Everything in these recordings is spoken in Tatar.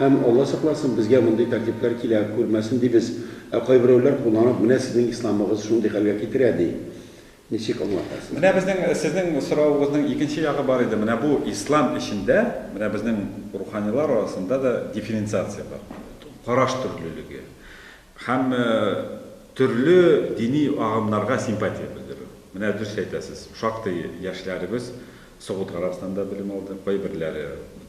Һәм, Алла сакласын, безгә мондый тәртипләр килә күрмәсен дибез. Ә кайберәүләр кулланып, менә сезнең исламыгыз шундый хәлгә китерә, ди. Ничек аңлатасыз? Менә безнең, сезнең соравыгызның икенче ягы бар иде. Менә бу ислам эчендә, менә безнең руханилар арасында да дифференциация бар. Караш төрлелеге. Һәм төрле дини агымнарга симпатия белдерү. Менә дөрес әйтәсез, шактый яшьләребез Согуд Гарәбстанында белем алды, кайберләре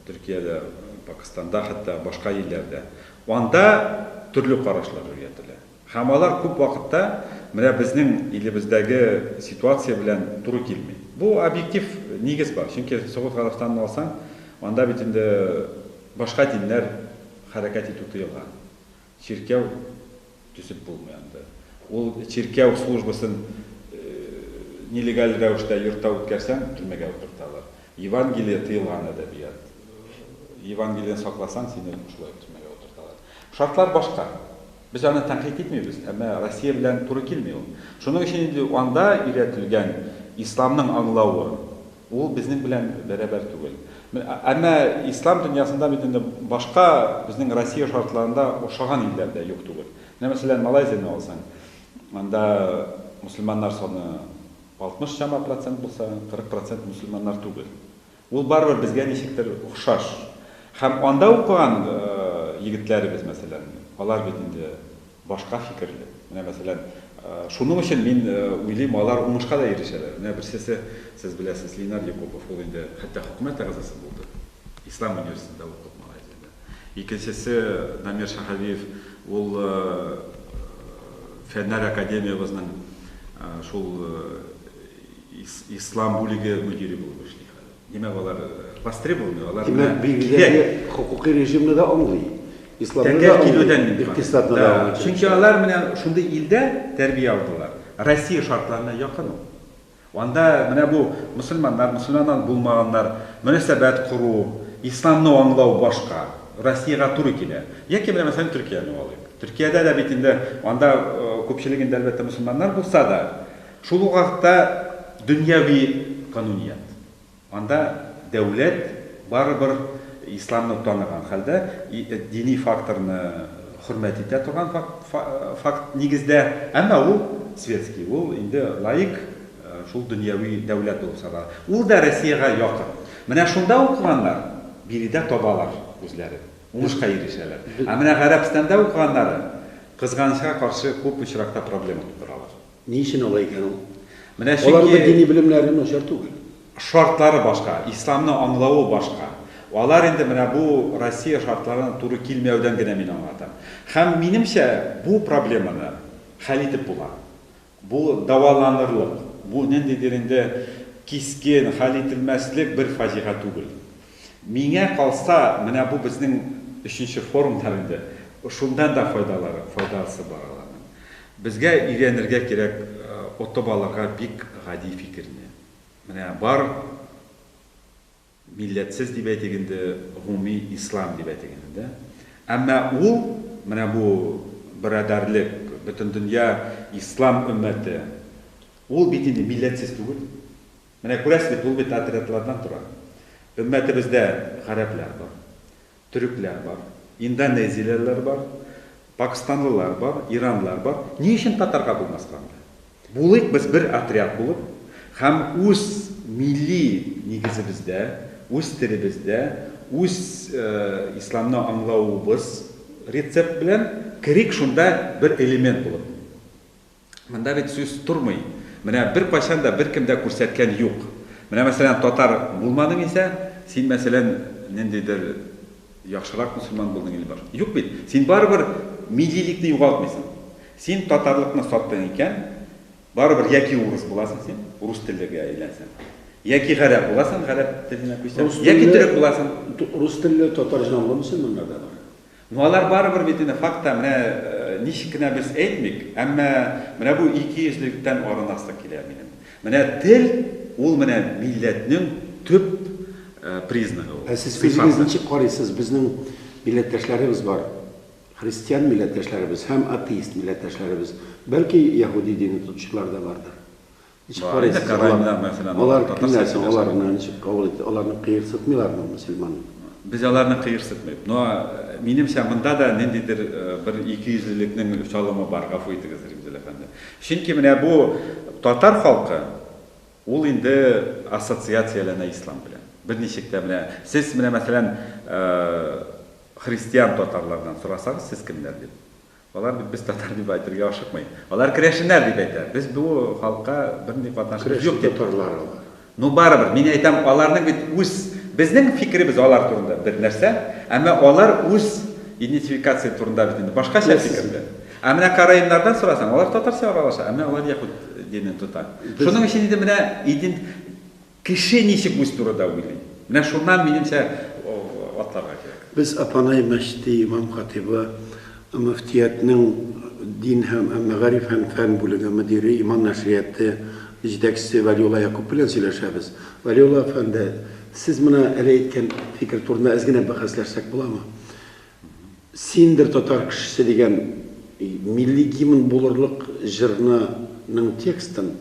Төркиядә, Пакыстанда, хәтта башка илләрдә. Анда төрле карашлар өйрәтелә. Һәм алар күп вакытта менә безнең илебездәге ситуация белән туры килми. Бу объектив нигез бар. Чөнки Согуд Гарәбстанын алсаң, анда бит инде башка диннәр хәрәкәт итү тыелган. Чиркәү төзеп булмый анда. Ул чиркәү службасын нелегаль рәвештә йортта үткәрсәң, төрмәгә утырталар. Евангелие тыелган әдәбият. Евангелиене сакласаң, сине шулай төрмәгә утырталар. Шартлар башка. Без аны тәнкыйть итмибез, әмма Россия белән туры килми ул. Шуның өчен инде анда өйрәтелгән исламның аңлавы, Ул безнең белән бәрабәр түгел. Әмма ислам дөньясында бит инде башка безнең Россия шартларында охшаган илләр дә юк түгел. Менә мәсәлән Малайзияне алсаң, анда мөселманнар саны 60 чама процент булса, 40 процент мөселманнар түгел. Ул барыбер безгә ничектер охшаш. Һәм анда укыган егетләребез мәсәлән, алар бит инде башка фикерле. Менә мәсәлән, шуның өчен мин уйлыйм, алар уңышка да ирешәләр. Менә берсесе, сез беләсез, Линар Якупов, ул инде хәтта хөкүмәт әгъзасы булды, Ислам университетында укып, Малайзиядә. Икенчесе, Дамир Шаһавиев, ул Фәннәр академиябезнең шул Ислам бүлеге мөдире булып эшли хәзер. Димәк, алар востребованный, алар белән кирәк. Димәк, бигдәге хокукый режимны да аңлый. Исламны да аңлый, икътисадны да аңлый. Чөнки алар менә шундый илдә тәрбия алдылар. Россия шартларына якын ул. Анда менә бу мөселманнар, мөселманнан булмаганнар, мөнәсәбәт кору, исламны аңлау башка. Россиягә туры килә. Яки менә мәсәлән Төркияне алыйк. Төркиядә дә бит инде анда күпчелегендә әлбәттә мөселманнар булса да, Шул ук вакытта дөньяви кануният. Анда дәүләт барыбер исламны таныган хәлдә, дини факторны хөрмәт итә торган факт нигездә, әмма ул светский, ул инде лаик, шул дөньяви дәүләт булып санала. Ул да Россиягә якын. Менә шунда укыганнар биредә табалар үзләрен, уңышка ирешәләр. Ә менә Гарәбстанда укыганнары, кызганычка каршы, күп очракта проблема тудыралар. Ни өчен алай икән ул? Менә чөнки... Аларның дини белемнәре начар түгел. Шартлары башка, исламны аңлавы башка. Алар инде менә бу Россия шартларына туры килмәүдән генә мин аңлатам. Һәм минемчә, бу проблеманы хәл итеп була. Бу дәваланырлык, бу ниндидер инде кискен, хәл ителмәслек бер фаҗига түгел. Миңа калса, менә бу безнең өченче форумнар инде. Шуннан да файдалары, файдасы бар аларның. Безгә өйрәнергә кирәк отып алырга бик гади фикерне. Менә бар милләтсез дип әйтик инде, гомуми ислам дип әйтик инде, дә? Әмма ул, менә бу берадәрлек, бөтендөнья ислам өммәте, ул бит инде милләтсез түгел. Менә күрәсез бит, ул бит отрядлардан тора. Өммәтебездә гарәпләр бар, төрекләр бар, индонезиялеләр бар, пакстанлылар бар, иранлылар бар. Ни өчен татарга булмаска анда? Булыйк без бер отряд булып һәм үз милли нигезебездә, үз телебездә, үз исламны аңлавыбыз рецепт белән керик шунда бер элемент булып. Монда бит сүз тормый. Менә беркайчан да беркем дә күрсәткән юк. Менә мәсәлән татар булмадың исә, син мәсәлән ниндидер яхшырак мөселман булдың Ильбар. Юк бит. Син барыбер миллилекне югалтмыйсың. Син татарлыкны саттың икән, барыбер яки урыс буласың син, урыс теллегә әйләнсәң. Яки гарәп буласың, гарәп теленә күчсәң. Яки төрек буласың. Рус телле татар җанлы мөселманнар да бар. Ну алар барыбер бит инде факта, менә ничек кенә без әйтмик, әмма менә бу икейөзлелектән арынасы килә минем. Менә тел, ул менә милләтнең төп признагы ул. Ә сез үзегез ничек карыйсыз, безнең милләттәшләребез бар, христиан милләттәшләребез һәм атеист милләттәшләребез, бәлки яһүди дине тотучылар да бардыр. Ничек карыйсыз, алар кемнәр соң, алар моны ничек кабул итте, аларны кыерсытмыйлармы мөселман? Без аларны кыерсытмыйбыз, но минемчә монда да ниндидер бер икейөзлелекнең чалымы бар, гафу итегез, Римзил әфәнде. Чөнки менә бу татар халкы, ул инде ассоциацияләнә ислам белән. Берничек тә менә сез менә мәсәлән христиан татарлардан сорасагыз сез кемнәр дип, Алар бит без татар дип әйтергә ашыкмый. Алар керәшеннәр дип әйтә. Без бу халыкка бернинди катнашыбыз юк дип. Керәшен татарлар алар. Ну барыбер, мин әйтәм, аларның бит үз, безнең фикеребез алар турында бер нәрсә, әмма алар үз идентификация турында бит инде башкача фикерле. Ә менә караимнардан сорасаң, алар татарча аралаша, әмма алар яһүд динен тота. Шуның өчен инде менә идент. Кеше ничек үз турыда уйлый? Менә шуннан, минемчә, атларга кирәк. Без Апанай мәчете имам-хатибы, мөфтиятнең дин һәм мәгариф һәм фән бүлеге мөдире, Иман нәшрияты җитәкчесе Вәлиулла Якуп белән сөйләшәбез. Вәлиулла әфәнде, сез менә әле әйткән фикер турында әз генә бәхәсләшсәк буламы? Синдер татар кешесе дигән милли гимн булырлык җырны ның текстын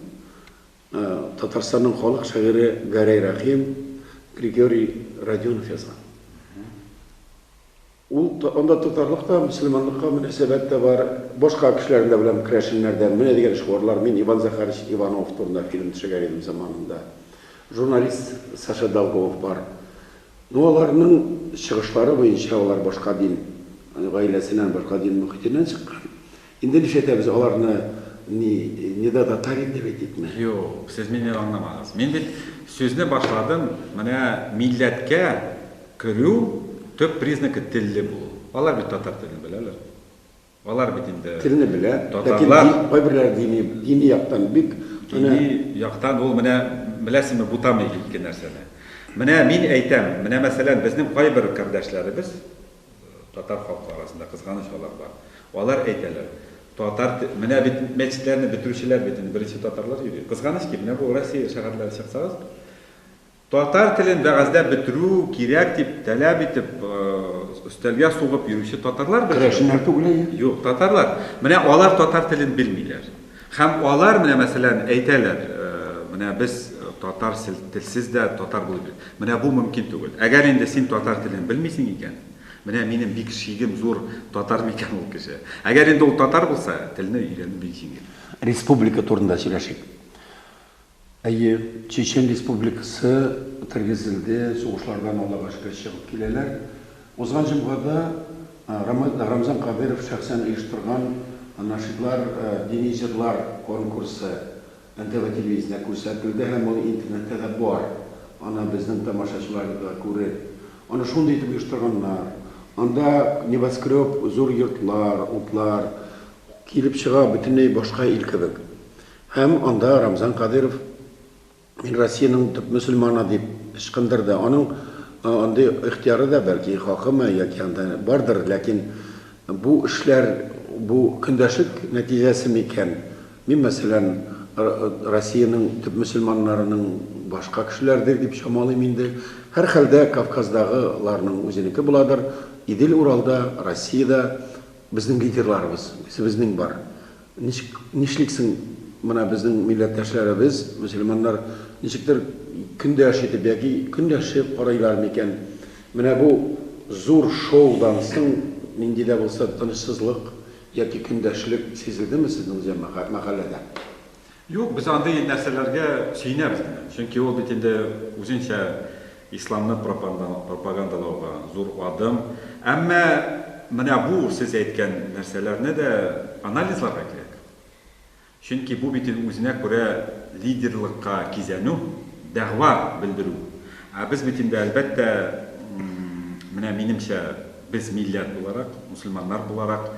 Татарстанның халык шагыйре Гәрәй Рәхим, Григорий Родионов язган. Ул анда татарлык та, мөселманлыкка мөнәсәбәт тә бар. Башка кешеләрне дә беләм, керәшеннәрдән. Менә дигән шигурлар. Мин Иван Захарович Иванов турында фильм төшергән идем заманында. Журналист Саша Долгов бар. Ну, аларның чыгышлары буенча, алар башка дин гаиләсеннән, башка дин мөхитеннән чыккан. Инде нишләтәбез аларны ни нида татар инде бит итмә. Юк, сез мине аңламагыз. Мин бит сүзне башладым, менә милләткә керү төп признакы телле булу. Алар бит татар телен беләләр. Алар бит инде Телне белә, ләкин татарлар. ди кайберләре дини дини яктан бик аны Дини яктан ул менә беләсезме бутамый ике нәрсәне. Менә мин әйтәм, менә мәсәлән безнең кайбер кардәшләребез, Татар халкы арасында кызганыч алар бар. Алар әйтәләр, татар те-, менә бит мәчетләрне бетерүчеләр бит инде беренче татарлар йөри. Кызганыч ки, менә бу Россия шәһәрләре чыксагыз, татар телен вәгазьдә бетерү кирәк дип тәләп итеп, өстәлгә сугып йөрүче татарлар бер җыелган. Керәшеннәр түгел әйе. Юк, татарлар. Менә алар татар телен белмиләр. Һәм алар менә, мәсәлән, әйтәләр, Менә без татар телсез дә татар булып йөрик. Менә бу мөмкин түгел. Әгәр инде син татар телен белмисең икән, менә минем бик шигем зур, татар микән ул кеше? Әгәр инде ул татар булса, телне өйрәнү бик җиңел. Республика турында сөйләшик. Әйе, Чечен Республикасы тергезелде, сугышлардан Аллага шөкер чыгып киләләр. Узган җомгада Рамзан Кадыйров шәхсән оештырган Нашидлар, дини җырлар конкурсы НТВ телевидениесендә күрсәтелде һәм ул интернетта да бар. Аны безнең тамашачылар да күреп. Аны шундый итеп оештырганнар. Анда небоскреб, зур йортлар, утлар килеп чыга, бөтенләй башка ил кебек. Һәм анда Рамзан Кадыйров Мин Россиянең төп мөселманы дип ычкындырды. Аның андый ихтыяры да, бәлки, хакымы яки анда бардыр, ләкин бу эшләр, бу көндәшлек нәтиҗәсе микән? Мин, мәсәлән, Россиянең төп мөселманнарының башка кешеләрдер дип чамалыйм инде. Һәрхәлдә, Кавказдагыларның үзенеке буладыр. Идел-Уралда, Россиядә безнең лидерларыбыз, үзебезнең бар. Ничек, нишли соң менә безнең милләттәшләребез, мөселманнар, ничектер көндәш итеп яки көнләшеп карыйлар микән? Менә бу зур шоудан соң нинди дә булса тынычсызлык яки көндәшлек сизелдеме сезнең җәмәгать, мәхәлләдә? Юк, без андый нәрсәләргә сөенәбез генә. Чөнки ул бит инде үзенчә исламны пропагандалауга зур адым. Әмма менә бу сез әйткән нәрсәләрне дә анализларга кирәк. Чөнки бу бит инде үзенә күрә лидерлыкка кизәнү, дәгъва белдерү. Ә без бит инде, әлбәттә, менә минемчә, без милләт буларак, мөселманнар буларак,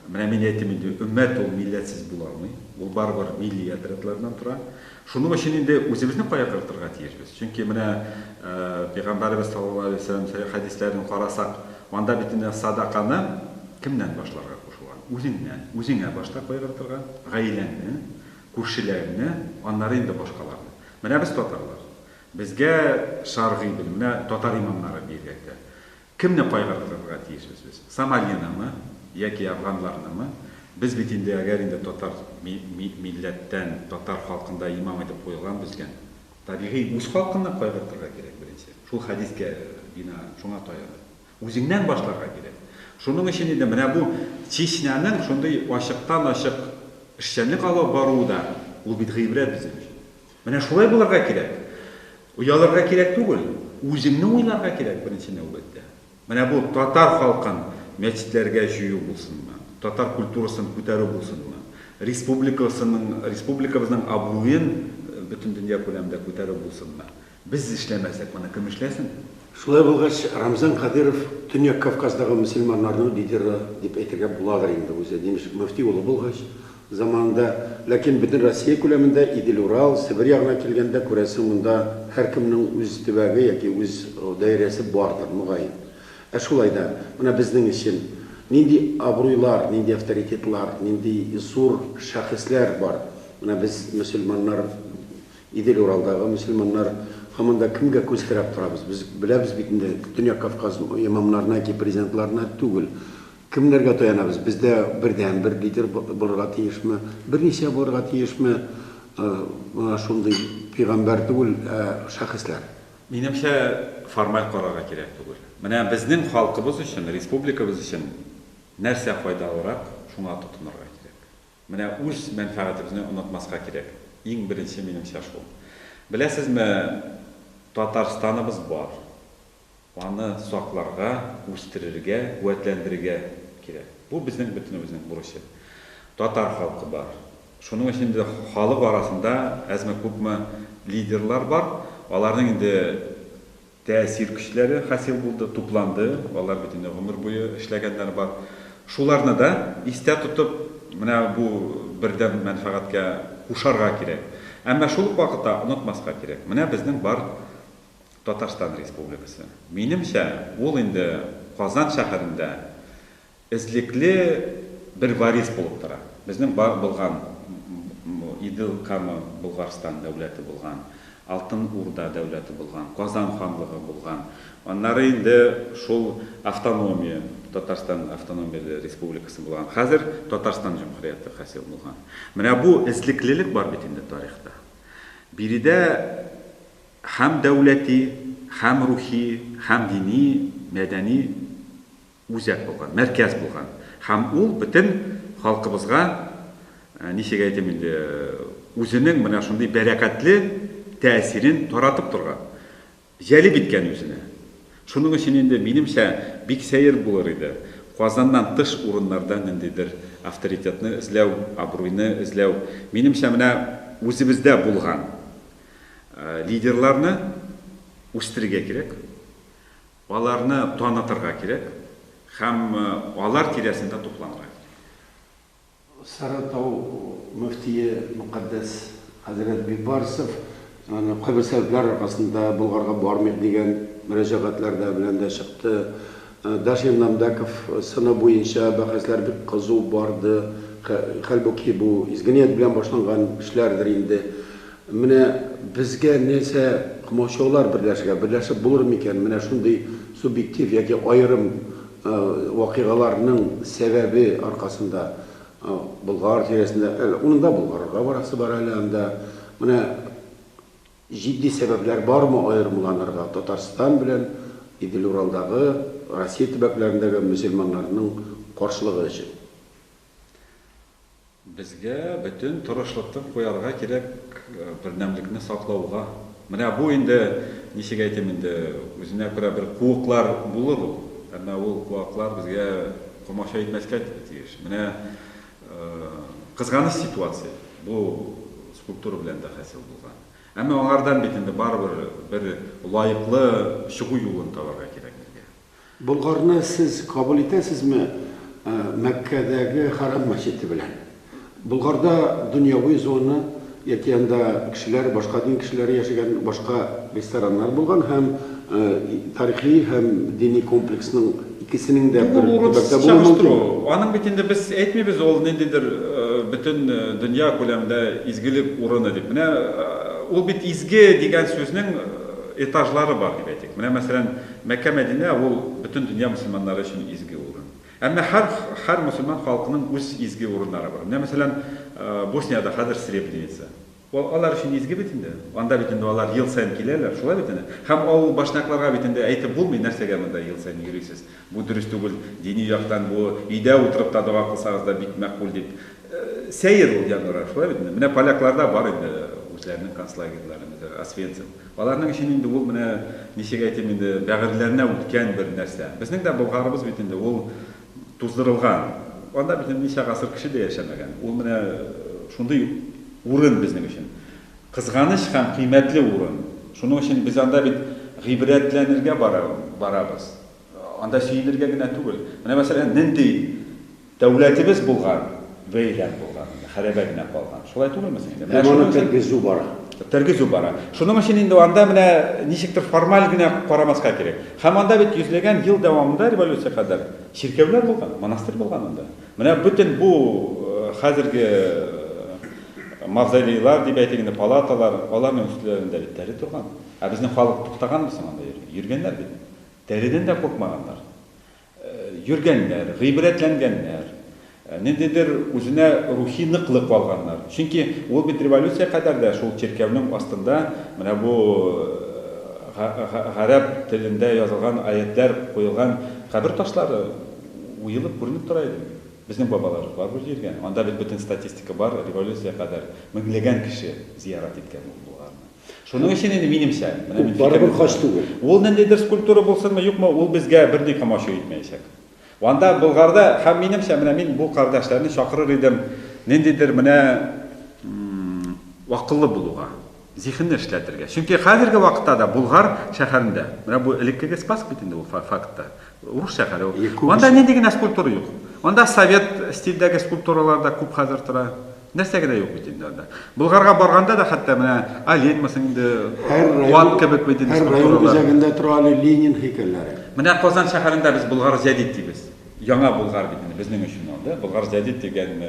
Менә мин әйтим инде, өммәт ул милләтсез була алмый. Ул барыбер милли отрядлардан тора. Шуның өчен инде үзебезне кая кертырга тиешбез? Чөнки менә Пәйгамбәребез саллаллаһу алейһи ва сәлләм сәхих хәдисләрен карасак, анда бит инде садаканы кемнән башларга кушылган? Үзеңнән. Үзеңә башта кайгыртырга, гаиләңне, күршеләреңне, аннары инде башкаларны. Менә без татарлар. Безгә шәргый белем, менә татар имамнары биергә кирәк. Кемне кайгыртырга тиешбез без? Сомалинымы, яки афганларнымы? Без бит инде, әгәр инде татар милләттән, татар халкын да имам итеп куелган безгә, табигый, үз халкынны кайгыртырга кирәк беренче. Шул хәдискә бинаән, шуңа таянып. Үзеңнән башларга кирәк. Шуның өчен инде менә бу Чечняның шундый ачыктан-ачык эшчәнлек алып баруы да, ул бит гыйбрәт безнең өчен. Менә шулай булырга кирәк. Оялырга кирәк түгел, үзеңне уйларга кирәк беренче нәүбәттә. Менә бу татар халкын мәчетләргә җыю булсынмы, татар культурасын күтәрү булсынмы, республикасының, республикабызның абруен бөтендөнья күләмендә күтәрү булсынмы? Без эшләмәсәк, моны кем эшләсен? Шулай булгач, Рамзан Кадыйров Төньяк Кавказдагы мөселманнарның лидеры дип әйтергә буладыр инде, үзе Димешк мөфти улы булгач, Заманында, ләкин бөтен Россия күләмендә Идел-Урал, Себер ягына килгәндә, күрәсең, монда һәркемнең үз төбәге яки үз даирәсе бардыр, мөгаен. Ә шулай да, менә безнең өчен нинди абруйлар, нинди авторитетлар, нинди зур шәхесләр бар? Менә без, мөселманнар, Идел-Уралдагы мөселманнар, һаман да кемгә күз терәп торабыз? Без беләбез бит инде, Төньяк Кавказ имамнарына яки президентларына түгел, Кемнәргә таянабыз? Бездә бердәнбер лидер булырга тиешме? Берничә булырга тиешме? Менә шундый пигамбәр түгел, ә шәхесләр. Минемчә, формаль карарга кирәк түгел. Менә безнең халкыбыз өчен, республикабыз өчен нәрсә файдалырак, шуңа тотынырга кирәк. Менә үз мәнфәгатебезне онытмаска кирәк. Иң беренче, минемчә, шул. Беләсезме, Татарстаныбыз бар. Аны сакларга, үстерергә, куәтләндерергә кирәк. Бу безнең бөтенебезнең бурычы. Татар халкы бар. Шуның өчен инде халык арасында әзме-күпме лидерлар бар. Аларның инде тәэсир көчләре хасил булды, тупланды. Алар бит инде гомер буе эшләгәннәр бар. Шуларны да истә тотып, менә бу бердәм мәнфәгатькә кушарга кирәк. Әмма шул ук вакытта онытмаска кирәк. Менә безнең бар Татарстан Республикасы. Минемчә, ул инде Казан шәһәрендә эзлекле бер варис булып тора. Безнең бар булган Идел Кама Болгарстан дәүләте булган, Алтын Урда дәүләте булган, Казан ханлыгы булган. Аннары инде шул автономия, Татарстан автономияле республикасы булган. Хәзер Татарстан җөмһүрияте хасил булган. Менә бу эзлеклелек бар бит инде тарихта. Биредә Һәм дәүләти, һәм рухи, һәм дини, мәдәни үзәк булган, мәркәз булган. Һәм ул бөтен халкыбызга, ничек әйтим инде, үзенең менә шундый бәрәкәтле тәэсирен таратып торган, җәлеп иткән үзенә. Шуның өчен инде, минемчә, бик сәер булыр иде Казаннан тыш урыннарда ниндидер авторитетны эзләү, абруйны эзләү. Минемчә, менә үзебездә булган, Лидерларны үстерергә кирәк, аларны танытырга кирәк һәм алар тирәсендә тупланырга кирәк. Сарытау мөфтие мөкатдәс хәзрәт Бибарсов кайбер сәбәпләр аркасында Болгарга бармыйк дигән мөрәҗәгатьләр дә белән дә чыкты. Дашир Намдаков сыны буенча бәхәсләр бик кызу барды, хәлбуки бу изге ният белән башланган эшләрдер инде. Менә безгә нәрсә комачаулар берләшергә, берләшеп булыр микән менә шундый субъектив яки аерым вакыйгаларның сәбәбе аркасында Болгар тирәсендә, әле урында Болгарырга барасы бар әле анда, менә Җитди сәбәпләр бармы аерымланырга Татарстан белән Идель-Уралдагы, Россия төбәкләрендәге мөселманнарның каршылыгы өчен? Безгә бөтен тырышлыкны куярга кирәк бердәмлекне саклауга. Менә бу инде, ничек әйтим инде, үзенә күрә бер куыклар булыр ул, әмма ул куаклар безгә комачау итмәскә тиеш. Менә Кызганыч ситуация, бу скульптура белән дә хасил булган. Әмма аңардан бит инде барыбер бер лаеклы чыгу юлын табарга кирәк безгә. Болгарны сез кабул итәсезме Мәккәдәге Хәрам мәчете белән? Болгарда дөньяви зона. Яки анда кешеләр, башка дин кешеләре яшәгән башка рестораннар булган һәм тарихи һәм дини комплексның икесенең дә бер төбәктә булуы мөмкинме? Бу урынсыз чагыштыру. Аның бит инде без әйтмибез ул ниндидер бөтен дөнья күләмендә изгелек урыны дип. Менә ул бит изге дигән сүзнең этажлары бар дип әйтик. Менә мәсәлән, Мәккә-Мәдинә ул бөтен дөнья мөселманнары өчен изге урын. Әмма һәр һәр мөселман халкының үз изге урыннары бар. Менә мәсәлән, Босниядә хәзер Сребреница. Ул алар өчен изге бит инде. Анда бит инде алар ел саен киләләр, шулай бит инде. Һәм авыл башнякларга бит инде әйтеп булмый, нәрсәгә монда ел саен йөрисез, бу дөрес түгел, дини яктан бу, өйдә утырып та дога кылсагыз да бик мәкбүл дип. Сәер ул январьга, шулай бит инде. Менә полякларда бар инде үзләренең концлагерьлары, мәсәлән, Освенцим. Аларның өчен инде ул менә, ничек әйтим инде, бәгырьләренә үткән бер нәрсә. Безнең дә Болгарыбыз бит инде ул туздырылган. Анда бит инде ничә гасыр кеше дә яшәмәгән. Ул менә шундый урын безнең өчен. Кызганыч һәм кыйммәтле урын. Шуның өчен без анда бит гыйбрәтләнергә барабыз. Анда сөенергә генә түгел. Менә мәсәлән, нинди Дәүләтебез булган, вәйлән булган инде, хәрәбә генә калган. Шулай түгелме соң инде? Менә Һәм аны тергезү бара. Тергезү бара. Шуның өчен инде анда менә ничектер формаль генә карамаска кирәк. Һәм анда бит йөзләгән ел дәвамында революция кадәр чиркәүләр булган, монастырь булган анда. Менә бөтен бу хәзерге мавзолейлар дип әйтик инде, палаталар, аларның өстләрендә бит тәре торган. Ә безнең халык туктаганмы соң анда йөргән? Йөргәннәр бит. Тәредән дә куркмаганнар. йөргәннәр, гыйбрәтләнгәннәр, ниндидер үзенә рухи ныклык алганнар. Чөнки ул бит революция кадәр дә шул чиркәүнең астында менә бу гарәп телендә язылган аятьләр куелган кабер ташлары уелып күренеп тора иде бит. Безнең бабаларыбыз барыбер җиргән. Анда бит бөтен статистика бар, революция кадәр меңләгән кеше зиярат иткән ул болгарны. Шуның өчен инде минемчә, менә мин барыбер хаҗ түгел. Ул ниндидер скульптура булсынмы, юкмы, ул безгә берни комачу итмәячәк. Анда Болгарда һәм минемчә, менә мин бу кардәшләрне чакырыр идем ниндидер менә акыллы булуга, зихенне эшләтергә. Чөнки хәзерге вакытта да Болгар шәһәрендә, менә бу элеккеге Спас бит инде ул фактта, урыс шәһәре ул. Анда нинди генә скульптура юк. Анда совет стильдәге скульптуралар да күп хәзер тора. Нәрсә генә юк бит инде анда. Болгарга барганда да хәтта менә олень мысын инде, ат кебек бит инде скульптуралар. Һәр район үзәгендә тора әле Ленин һәйкәлләре. Менә Казан шәһәрендә без Болгар җәдид дибез. Яңа Болгар бит инде безнең өчен ул, да? Болгар җәдид дигән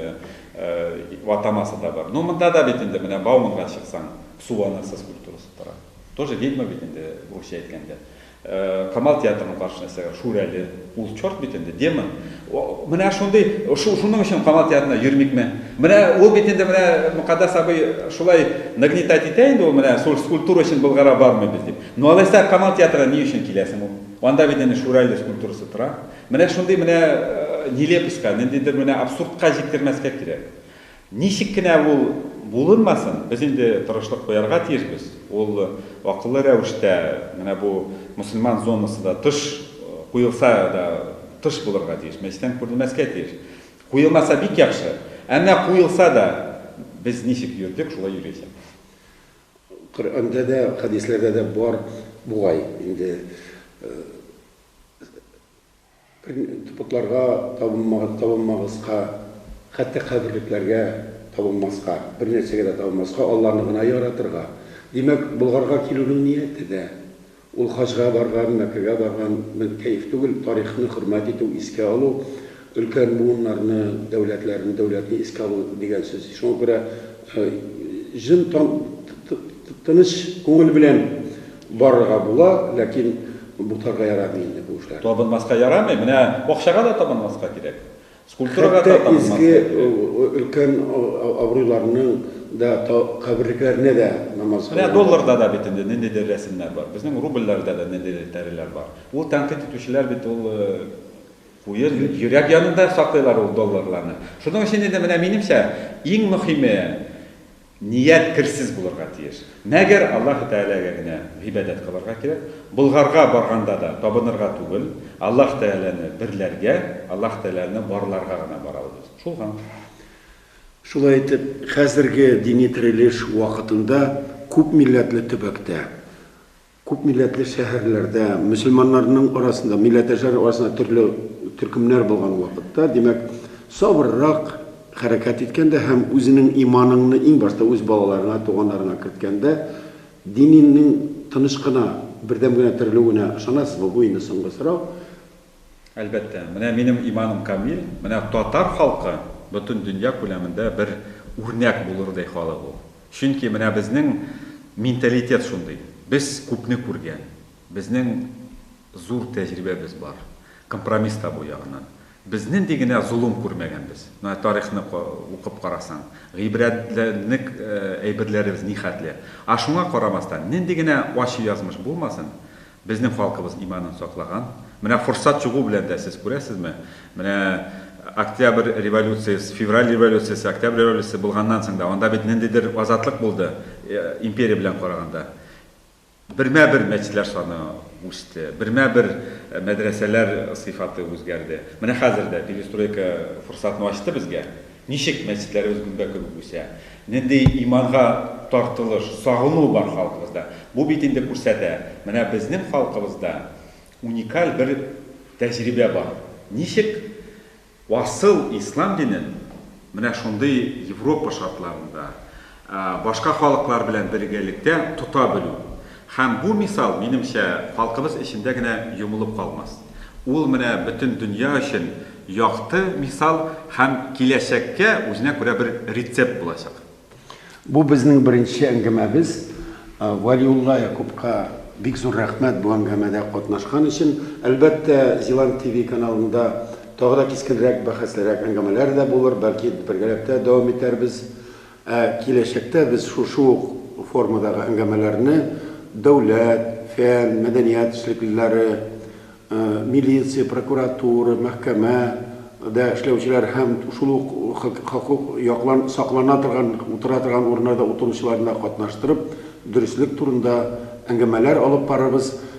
атамасы да бар. Ну, монда да бит инде менә Бауманга чыксаң, су анасы скульптурасы тора. Тоже ведьма бит инде, русча әйткәндә. Камал театрының каршына өстәгән Шүрәле, ул чорт бит инде, демон. Менә шундый, шуның өчен Камал театрына йөрмикме? Менә ул бит инде менә Мөкаддәс абый шулай нагнетать итә инде ул, менә шул скульптура өчен Болгара бармыйбыз дип. Ну алайса Камал театрына ни өчен киләсең ул? Анда бит әнә Шүрәле скульптурасы тора. Менә шундый менә нелепоська, ниндидер менә абсурдка җиткермәскә кирәк. Ничек кенә ул булынмасын, без инде тырышлык куярга тиешбез. Ул акыллы рәвештә, менә бу мөселман зонасы да тыш куелса да тыш булырга тиеш, мәчеттән күренмәскә тиеш. Куелмаса бик яхшы. Ә менә куелса да, без ничек йөрдек, шулай йөрячәкбез. Коръәндә дә, хәдисләрдә дә бар бугай инде. Тупыкларга табынмагыз, табынмагызка, хәтта каберлекләргә табынмаска, бернәрсәгә дә табынмаска, Алланы гына яратырга. Димәк, Болгарга килүнең нияте дә, ул хаҗга барган, Мәккәгә барган бер кәеф түгел, тарихны хөрмәт итү, искә алу, өлкән буыннарны, дәүләтләрне, дәүләтне искә алу дигән сүз. Шуңа күрә җын тыныч күңел белән Барырга була, ләкин бутарга ярамый инде бу эшләр. Табынмаска ярамый, менә бакчага да табынмаска кирәк. Скульптурага да табынмаска кирәк. Хәтта изге өлкән абруйларның да каберлекләренә дә намаз укыйлар. Менә долларда да бит инде ниндидер рәсемнәр бар. Безнең рубльләрдә дә ниндидер тәреләр бар. Ул тәнкыйть итүчеләр бит ул куе йөрәк янында саклыйлар ул долларларны. Шуның өчен инде менә минемчә иң мөхиме, Ният керсез булырга тиеш. Мәгәр Аллаһы Тәгаләгә генә гыйбадәт кылырга кирәк. Болгарга барганда да табынырга түгел, Аллаһ Тәгаләне берләргә, Аллаһ Тәгаләне барларга гына барабыз. Шул гамь. Шулай итеп, хәзерге дини терелеш вакытында күпмилләтле төбәктә, Күпмилләтле шәһәрләрдә, мөселманнарның арасында, милләттәшләр арасында төрле төркемнәр булган вакытта, димәк, сабыррак хәрәкәт иткәндә һәм үзенең иманыңны иң башта үз балаларыңа, туганнарыңа керткәндә, дининең тыныч кына, бердәм генә терелүенә ышанасызмы? Бу инде соңгы сорау. Әлбәттә, менә минем иманым камил, менә татар халкы бөтен дөнья күләмендә бер үрнәк булырдай халык ул. Чөнки менә безнең менталитет шундый. Без күпне күргән, безнең зур тәҗрибәбез бар, компромисс табу ягыннан. Без нинди генә золым күрмәгәнбез. Менә тарихны укып карасаң, гыйбрәтләнерлек әйберләребез нихәтле. Ә шуңа карамастан, нинди генә ачы язмыш булмасын, Безнең халкыбыз иманын саклаган. Менә форсат чыгу белән дә, сез күрәсезме, менә Октябрь революциясе, Февраль революциясе, Октябрь революциясе булганнан соң да, анда бит ниндидер азатлык булды, империя белән караганда. Бермә-бер мәчетләр саны үсте, бермә-бер мәдрәсәләр сыйфаты үзгәрде. Менә хәзер дә перестройка форсатын ачты безгә. Ничек мәчетләребез гөмбә кебек үсә? Нинди иманга тартылыш, сагыну бар халкыбызда? Бу бит инде күрсәтә, менә безнең халкыбызда уникаль бер тәҗрибә бар. Ничек асыл ислам динен менә шундый Европа шартларында, башка халыклар белән бергәлектә тота белү. Һәм бу мисал, минемчә, халкыбыз эчендә генә йомылып калмас. Ул менә бөтен дөнья өчен якты мисал һәм киләчәккә үзенә күрә бер рецепт булачак. Бу безнең беренче әңгәмәбез. Вәлиулла Якупка бик зур рәхмәт бу әңгәмәдә катнашкан өчен. Әлбәттә, Зилант ТВ каналында тагы да кискенрәк, бәхәслерәк әңгәмәләр дә булыр, бәлки бергәләп тә дәвам итәрбез. Ә киләчәктә без шушы ук формадагы әңгәмәләрне дәүләт, фән, мәдәният эшлеклеләре, милиция, прокуратура, мәхкәмә дә эшләүчеләр һәм шул ук хокук яклан саклана торган утыра торган урыннарда утыручыларны да катнаштырып, дөреслек турында әңгәмәләр алып барырбыз.